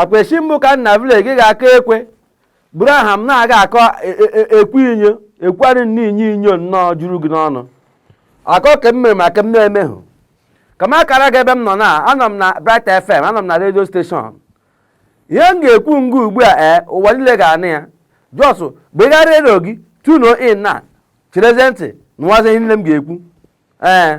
ọkwa echi mbụ ka na vileji gị ga-akụ ekwe buru aha m na-aga akọ e, e, e, ekwu inyo ekwari nne inye inyo nnọọ juru gị n'ọnụ akọ ka m mere ma ka m na-emehụ ka m kara gị ebe m nọ na anọ m na Bright FM anọ m na redio steshọn ihe m ga-ekwu nga ugbu a ee ụwa niile ga-anụ ya just gbegharị redio gị tuno in na cherezie ntị nụwazie ihe niile m ga-ekwu ee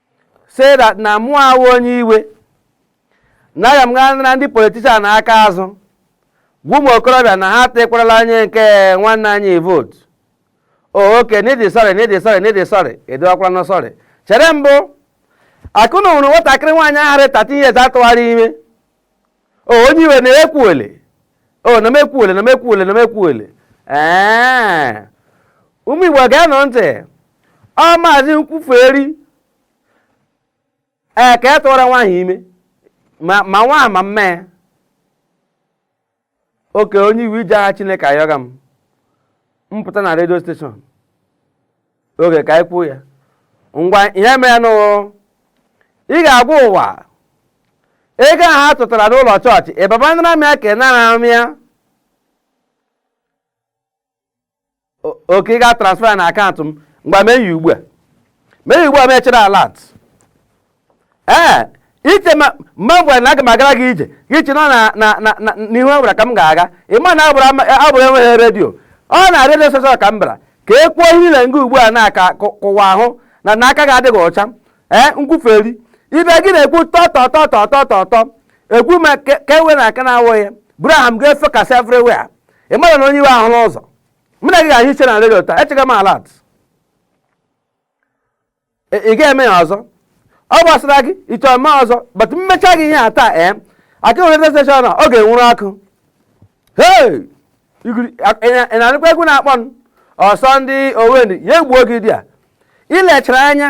say that na mụ awụ onye iwe na aga m gaa nara ndị politishan aka azụ gwa ụmụ okorobịa na ha tụkwarala onye nke nwanne anyị vootu oh, oke na ị dị sọrị na ị dị sọrị na ị dị sọrị edowakwala na sọrị chere mbụ akụna nwụrụ nwatakịrị nwaanyị ahụ rị 13 years a tụwara ime o onye iwe na-ekwuole o na m ekwuole na m ekwuole na m ekwuole ee ụmụ igbo geenụ ntị ọ maazị nkwuferi ee ka ị tụwara nwaanyị ime ma ma nwa ma mma ya oke onye iwe i ji aha chineke ayọga m mpụta na redio steshọn oge ka anyị kwuo ya ngwa ihe merenụ ị ga-agwa ụwa ego ahụ ha tụtara n'ụlọ chọọchị ịbaba nara m ya ka ị nara m ya oke ị ga-transfer na akaụntụ m ngwa mee ya ugbu a mee ya ugbu a m echere alat ee i che ma mgbe m gwara na aga m agara gị ije gị chi nọ n'ihu e gwara ka m ga-aga ị ma na abụrụ enweghị redio ọ na redio steshọn ka m bịara ka e kwuo ihe ile nga ugbu a na-aka ka ụwa hụ na na aka gị adịghị ọcha ee nkwuferi ibe gị na-ekwu tọtọ tọtọ tọtọ tọ ekwu ma ka ewe na aka na-awụ ya buru aha m ga-efekasị everywhere ị mara na onye iwe ahụ n'ụzọ mụ na gị ga-ahụ iche na redio taa echega m alat ị ga-eme ya ọzọ ọ gbasara gị ị chọ eme ọzọ but m mecha gị ihe a taa ee aka nwe redio steshọn ọ ga-enwuru akụ ị na-anụkwa egwu na-akpọ m ọsọ ndị owe ndị ya egbuo gị dịa i lechara anya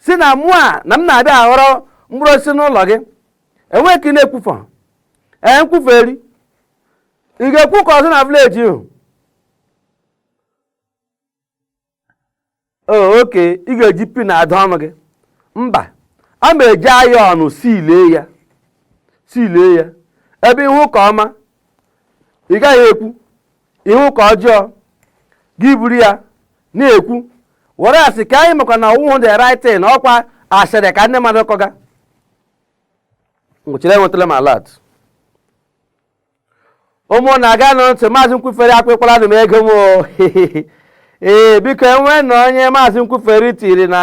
si na mụ a na m na-abịa aghọrọ mkpụrụ osisi n'ụlọ gị enweghị ka ị na-ekwufọ ee nkwuferi ị ga-ekwukwa ọzọ na vileji ihu oke ị ga-eji pin adọ ọnụ gị mba a ma eji ayọn silee ya silee ya ebe ị hụ nke ọma ị gaghị ekwu ị hụ nke ọjọọ gị buru ya na-ekwu whereas ka anyị makwa na ọ wụhụ the right thing ọkwa asịrị ka ndị mmadụ kọga ngwa chere enwetala m alat ụmụnna ṅaanụ ntị maazị nkwufere akwụkwalanụ m ego m o. ee biko e nweenụ onye maazị nkwufere tiri na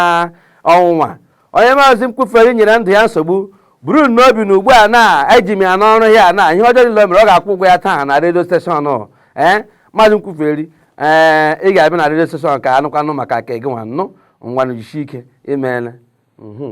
ọnwụnwa onye maazị nkwufere nyere ndụ ya nsogbu buru n'obi na ugbu a na eji m ya n'ọrụ ya na ihe ọjọọ niile o mere ọ ga-akwụ ụgwọ ya taa na redio steshọn ee maazị nkwufere ee ị ga-abịa na redio steshọn ka a nụkwanụ maka nke gị nwa nụ ngwanụ jisie ike imeela mhm.